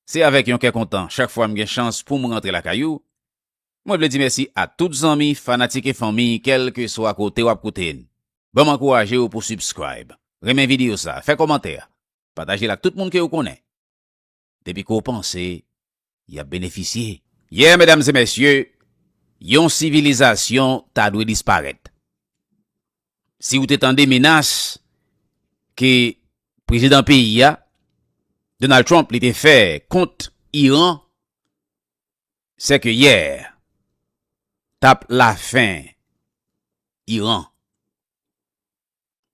Se avèk yon kè kontan chak fwa m gen chans pou m rantre lakay ou. Mwen vle di mèsi a tout zanmi, fanatik e fanmi kèlkeswa kote w ap koute n. Ban m ankouraje w pou subscribe, renmen videyo sa, fè kòmantè, pataje l ak tout moun ke ou konnen. Depi ke w panse y ap benefisye. Yeah medam e mesye, yon sivilizasyon ta dwe disparèt. si ou te tande menas ke prezidan peyi a, Donald Trump li te fè kont Iran, se ke yè tap la fen Iran.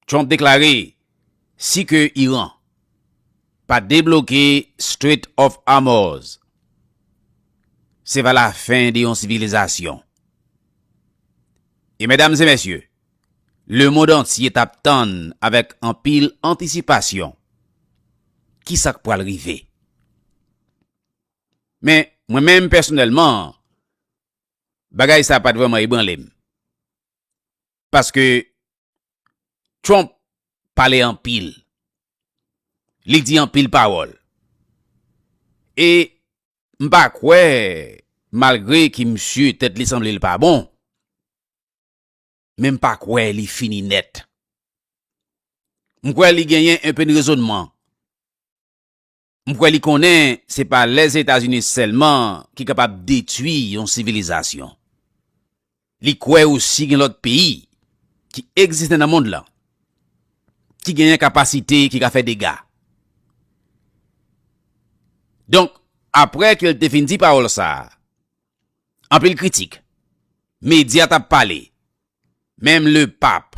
Trump deklare si ke Iran pa debloke Strait of Hormuz, se va la fen de yon sivilizasyon. E medam e mesye, le mond antye t ap tann avèk anpil antisipasyon ki sa k pral rive. Men, mwen menm pèsonèlman, bagay sa pa t vrèman ebranle m. Paske, Trump pale anpil. Li di anpil pawòl. E, m pa kwè malgre ke misye tèt li sanble l pa bon men m pa kwè li fini nèt. M kwè li genyen enpe n rezonman. M kwè li konnen se pa Lèzetazini sèlman ki kapab detwi yon sivilizasyon. Li kwè osi gen lòt peyi ki egziste nan mond lan ki genyen kapasite ki ka fè dega. Donk, apre ke l te fin di pawòl sa a, anpil kritik, medya t ap pale, menm Lepap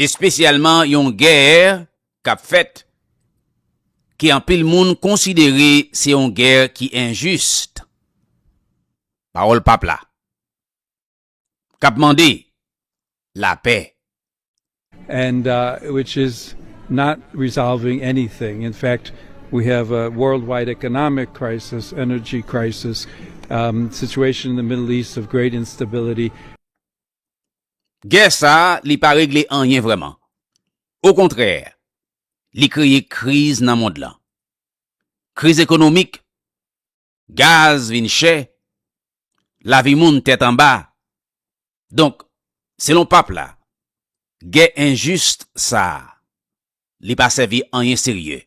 espesyalman yon gè k ap fèt ke anpil moun konsidere se yon gè ki enjis, pawòl Pap la, k ap mande lapè. And which is not resolving anything, in fact we have a worldwide economic crisis, energy crisis, situation in the Middle East of great instability. Gè sa a li pa regle anyen vrèman. Okontrè, li kreye kriz nan mond lan. Kriz ekonomik, gaz vin chè, lavi moun tèt anba. Donk, selon Pap la, gè enjis sa a, li pa sèvi anyen serye.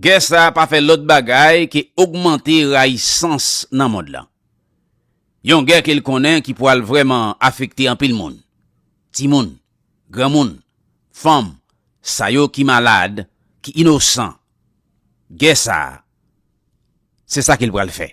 Gè sa a pa fè lòt bagay ke ogmante rayisans nan mond lan. Yon gè ke l konnen ki pwal vrèman afekte anpil moun, timoun, granmoun, fanm, sa yo ki malad, ki inosan. Gè sa a, se sa ke l pral fè.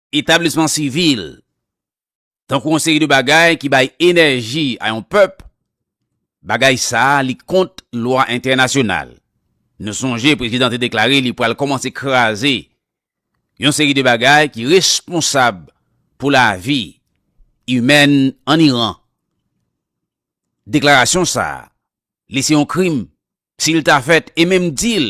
Etablisman sivil, tankou yon seri de bagay ki bay enèji a yon pèp, bagay sa a li kont lwa entènasyonal. Nou sonje prezidan te deklare li pral kòmanse kraze yon seri de bagay ki responsab pou lavi imèn ann Iran. Deklarasyon sa a, li se yon krim si l ta fèt e menm di l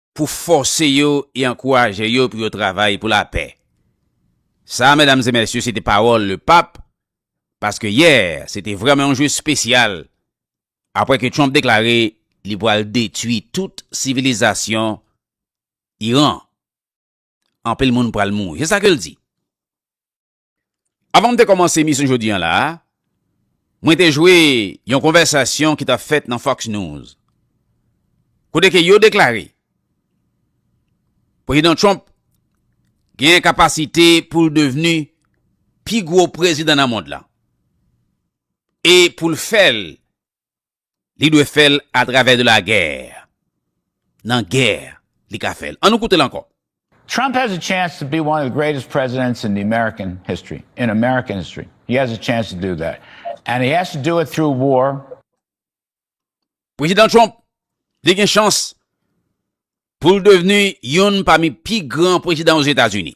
pou fòse yo e ankouraje yo pou yo travay pou lapè. Sa, medam e mesye, se te pawòl le pap, paske yè, se te vrèman yon jou espesyal, apwè ke Trump deklare li pwal detwi tout sivilizasyon Iran. Anpil moun pwal mouri. Se sa ke l di. Avan m te kòmanse emisyon jodi an la a, mwen te jwe yon konvèsasyon ki t ap fèt nan Fox News, kote ke yo deklare Prezidan Trump genyen kapasite pou l devni pi gwo prezidan nan mond la e pou l fè l Li dwe fè l a travè de la gè. Nan gè li ka fè l. An nou koute l ankò. Trump has a chance to be one of the greatest presidents in the American history, in American history. He has a chance to do that. And he has to do it through war. Prezidan Trump, li gen chans pou l devni youn pami pi gran prezidan Ozetazini.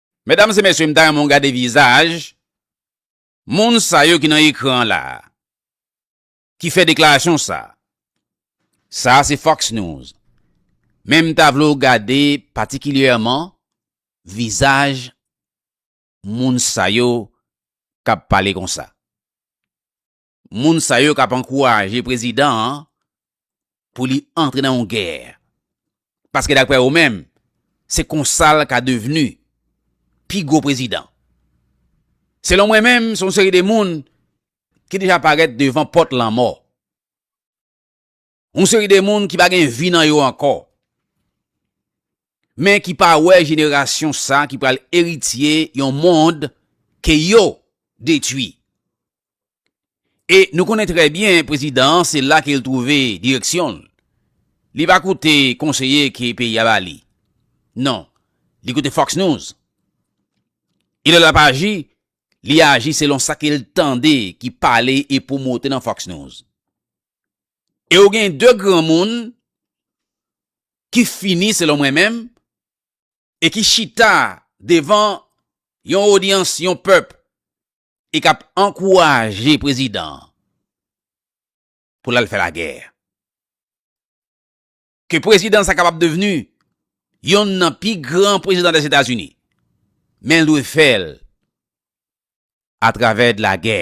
Medam se mesye m ta renmen w gade vizaj moun sa yo ki nan ekran an la ki fè deklarasyon sa. Sa a se Fox News. Men m ta vle w gade patikilyèman vizaj moun sa yo k ap pale konsa. moun sa yo k ap ankouraje prezidan an pou li antre nan yon gè. Paske daprè yo menm, se konsa l ka devni pi gwo prezidan. Selon mwen menm, se yon seri de moun ki deja parèt devan pòt lanmò. Yon seri de moun ki pa gen vi nan yo ankò, men ki pa wè jenerasyon sa ki pral eritye yon mond ke yo detwi. E nou konnen trè byen prezidan an se la ke l twouve direksyon l. Li pa koute konseye ke peyi a ba li. Non, li koute Fox News. E lè l ap aji, li aji selon sa ke l tande ki pale e pwomote nan Fox News. E ou gen de granmoun ki fini selon mwen menm e ki chita devan yon odyans yon pèp e k ap ankouraje prezidan pou l al fè lagè. Ke prezidan sa kapab devni yonn nan pi gran prezidan Lèzetazini men l dwe fè l atravè de lagè.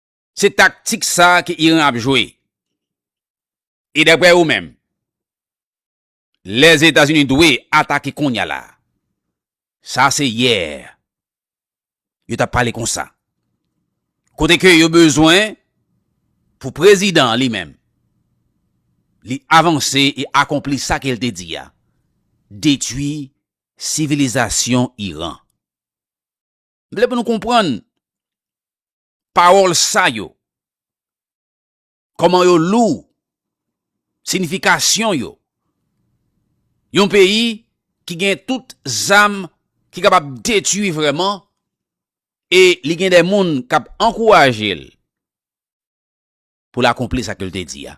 Se taktik sa a ke Iran ap jwe. E daprè ou menm, Lèzetazini dwe atake kounya la a. Sa se yè yo t ap pale konsa. Kote ke yo bezwen pou prezidan an li menm, li avanse e akonpli sa ke l te di a, detwi sivilizasyon Iran. M vle pou nou konprann pawòl sa yo, kòman yo lou, sinifikasyon yo. Yon peyi ki gen tout zam ki kapab detui vrèman e li gen de moun k ap ankouraje l pou l akonpli sa ke l te di a.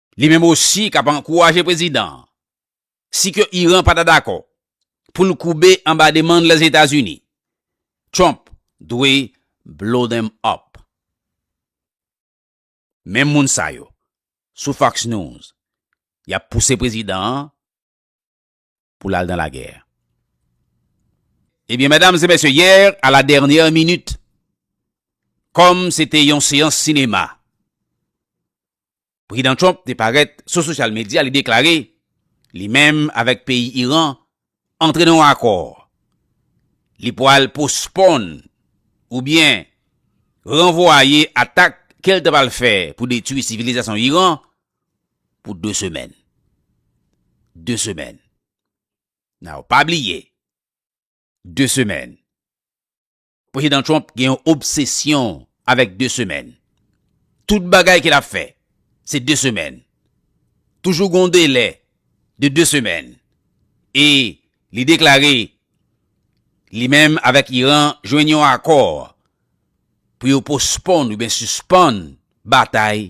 Li menm osi kap ankouraje prezidan an, si ke Iran pa ta dakò, pou l koube anba demann Lèzetazini. Trump dwe blow them up. Menm moun sa yo, sou Fox News, yap pouse prezidan an pou lal dan lagè. Ebyen medam e mesye yè a la dènyè minit kòm se te yon seyans sinema prezidan Trump te parèt sou sosyal medya li deklare li menm avèk peyi Iran antre nan yon akò li pwal posponn oubyen ranvwaye atak kel te pwal fè pou detwi sivilizasyon Iran pou 2 semèn. 2 semèn. Now, pa bliye, 2 semèn. Prezidan Trump gen yon obsesyon avèk 2 semèn. Tout bagay ke l ap fè, se 2 semèn. Toujou gen yon delè de 2 semèn. E li deklare, li menm avèk Iran jwenn yon akò pou yo posponn oubyen sispann batay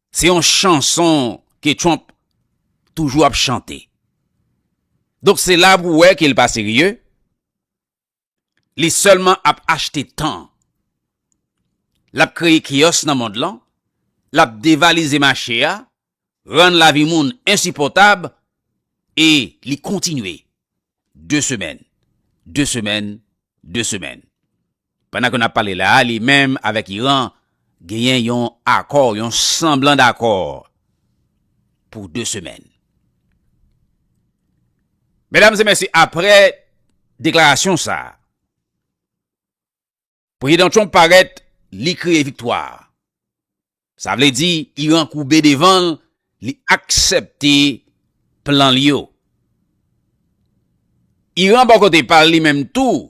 Se yon chanson ke Trump toujou ap chante. Donk se la pou wè ke li pa serye, li sèlman ap achte tan. L ap kreye keyòs nan mond lan, l ap devalize mache a, rann lavi moun ensipòtab e li kontinye. De semèn, de semèn, de semèn. Pandan ke n ap pale la a, li menm avèk Iran genyen yon akò, yon sanblan dakò pou 2 semèn. Medam e mesye, apre deklarasyon sa a, Prezidan Trump parèt, li kriye viktwa. Sa vle di, Iran koube devan l, li aksepte plan li yo. Iran bò kote pa l li menm tou,